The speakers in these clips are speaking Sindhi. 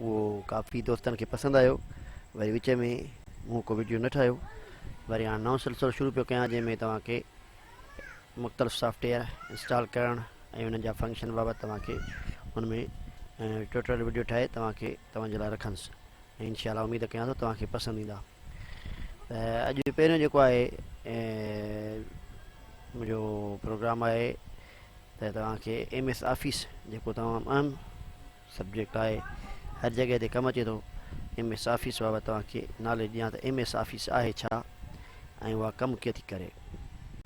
اهو ڪافي دوستن کي پسند آيو وري وچ ۾ مون ڪو ويڊيو نه ٺاهيو وري هاڻ نئون سلسلو شروع پيو ڪيان جنهن ۾ توهان کي مختلف سافٽويئر انسٽال ڪرڻ ۽ انهن جا فنڪشن بابت توهان کي ان ۾ ٽوٽل ويڊيو ٺاهي توهان کي توهان جي لاء رکندس ۽ انشاء الله اميد ڪيان ٿو توهان کي پسند ايندا ته اڄ پهريون جيڪو آهي منهنجو پروگرام آهي ته توهان کي ايم ايس آفيس جيڪو تمام اهم سبجيڪٽ آهي هر جڳه تي ڪم اچي ٿو ايم ايس آفيس بابت توهان کي ناليج ڏيان ته ايم ايس آفيس آهي ڇا ۽ اها ڪم ڪيئن ٿي ڪري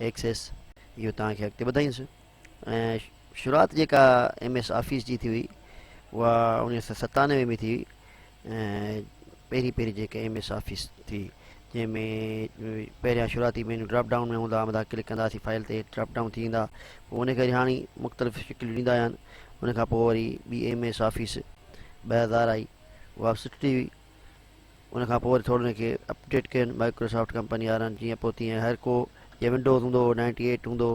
ايڪسيس اهو توهان کي اڳتي ٻڌائينس ۽ شروعات جيڪا ايم ايس آفيس جي ٿي هئي اها اڻويهه سو ستانوي ۾ ٿي پهرين پهرين جيڪا ايم ايس آفيس ٿي جنهن ۾ پهريان شروعاتي مينيو ڊراپ ڊائون ۾ هوندا مٿان ڪلڪ ڪنداسي فائل تي ڊراپ ڊائون ٿي ويندا پوء ان ڪري هاڻي مختلف شڪليون ڏيندا آهن ان کان پوء وري ٻي ايم ايس آفيس ٻه هزار آئي اها به سٺي ٿي ان کان پوء وري ٿورو ان کي اپڊيٽ ڪين مائڪروسافٽ ڪمپني وارن جيئن پوء تيئن هر ڪو جي ونڊوز هوندو هو نائنٽي ايٽ هوندو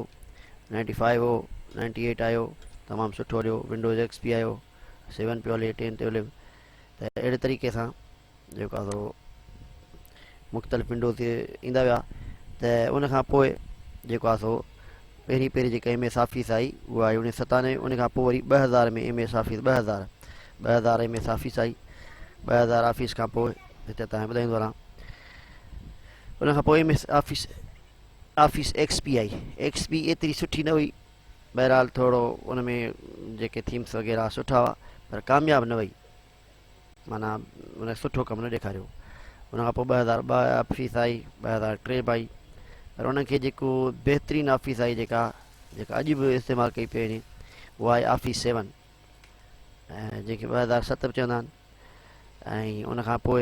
نائنٽي فائيو هو نائنٽي ايٽ آيو تمام سٺو هليو ونڊوز ايڪس پي آيو سيون پيو هلي ٽين تي هليو ته اهڙي طريقي سان جيڪو مختلف ونڊو تي ايندا ويا ته ان کان پوء جيڪو آ سو پهرين پهرين جيڪا ايم ايس آفيس آئي اها آئي اڻيهه سو ستانوي ان کان پوء وري ٻه هزار ۾ ايم ايس آفيس ٻه هزار ٻه هزار ايم ايس آفيس آئي ٻه هزار آفيس کان پوء هتي تائين ٻڌائيندو رهان ان کان پوء M S office office X P آئي ایکس پي ايتري سٺي نه هئي بهرحال ٿورو ان ۾ جيڪي ٿيمس وغيره سٺا هئا پر ڪامياب نه وئي معنيٰ ان سٺو ڪم نه ڏيکاريو ان کان پوء ٻه هزار ٻه آفيس آئي ٻه هزار ٽي به آئي پر ان کي جيڪو بهترين آفيس آئي جيڪا جيڪا اڄ به استعمال ڪئي پئي وڃي اها آئي آفيس سيون جنهنکي ٻه هزار ست به چوندا آهن ۽ ان کان پوء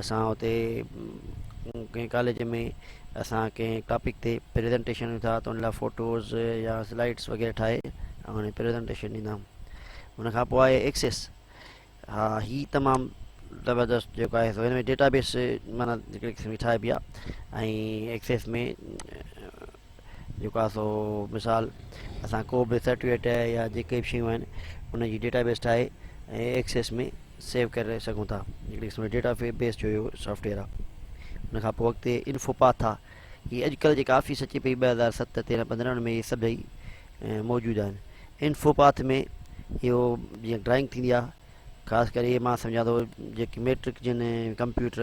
اسان اتي ڪنهن ڪاليج ۾ اسان ڪنهن ٽاپڪ تي پريزنٽيشن ڏيون ٿا ته ان لاء فوٽوز يا سلائيڊس وغيره ٺاهي هاڻي پريزنٽيشن ڏيندا ان کان پوء آهي ايڪسيس ها هي تمام زبردست جيڪو آهي سو هن ۾ ڊيٽا بيس مانا هڪڙي قسم جي ٺاهبي آهي ۽ ايڪسيس ۾ جيڪو آهي سو مثال اسان ڪو به سرٽيفڪيٽ يا جيڪي به شيون آهن ان جي ڊيٽا بيس ٺاهي ۽ ايڪسيس ۾ سيو ڪري سگهون ٿا هڪڙي قسم جو ڊيٽا بيس جو اهو سافٽويئر آهي ان کان پوء اڳتي انفو پاٿ آ هي اڄڪلهه جيڪا آفيس اچي پئي ٻه هزار ست تيرهن پندرهن ۾ اهي سڀئي موجود آهن انفو پاٿ ۾ اهو جيئن ڊرائنگ ٿيندي آهي خاص ڪري مان سمجهان ٿو جيڪي ميٽرڪ جن ڪمپيوٽر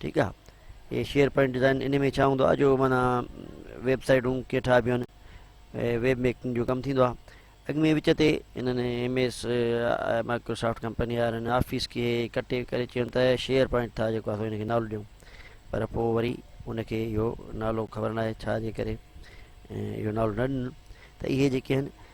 ٺيڪ آ هي شيئر پوائنٽ ڊيزائن ان ۾ ڇا هوندو آهي جو مانا ويب سائيٽون ڪيئن ٺاهبيون آهن ويب ميڪنگ جو ڪم ٿيندو آهي اڳ ۾ وچ تي انهن ايم ايس مائڪروسافٽ ڪمپني وارن آفيس کي ڪٽي ڪري چيون ته شيئر پوائنٽ ٿا جيڪو اسان هن کي نالو ڏيون پر پوء وري ان کي اهو نالو خبر ناهي ڇا جي ڪري اهو نالو نه ڏنو ته اهي جيڪي آهن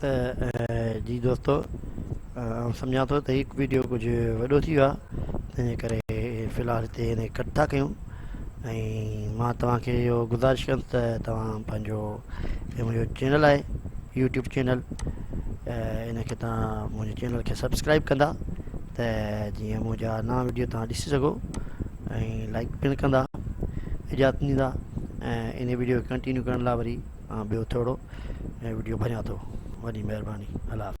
ته جي دوستو آئون سمجهان ٿو ته هي ويڊيو ڪجهه وڏو ٿي ويو آهي تنهنجي ڪري في الحال هتي هن کي ڪٽ ٿا ڪيون ۽ مان توهان کي اهو گذارش ڪيم ته توهان پنهنجو هي منهنجو چينل آهي يوٽيوب چينل ان کي توهان منهنجي چينل کي سبسڪرائب ڪندا ته جيئن منهنجا نوان ويڊيو توهان ڏسي سگهو ۽ لائڪ پڻ ڪندا اجازت ڏيندا ۽ ان ويڊيو کي ڪنٽينيو ڪرڻ لاء وري ٻيو ٿورو ۽ وڊيو ڀريان ٿو وڏي مھرباني الله حافظ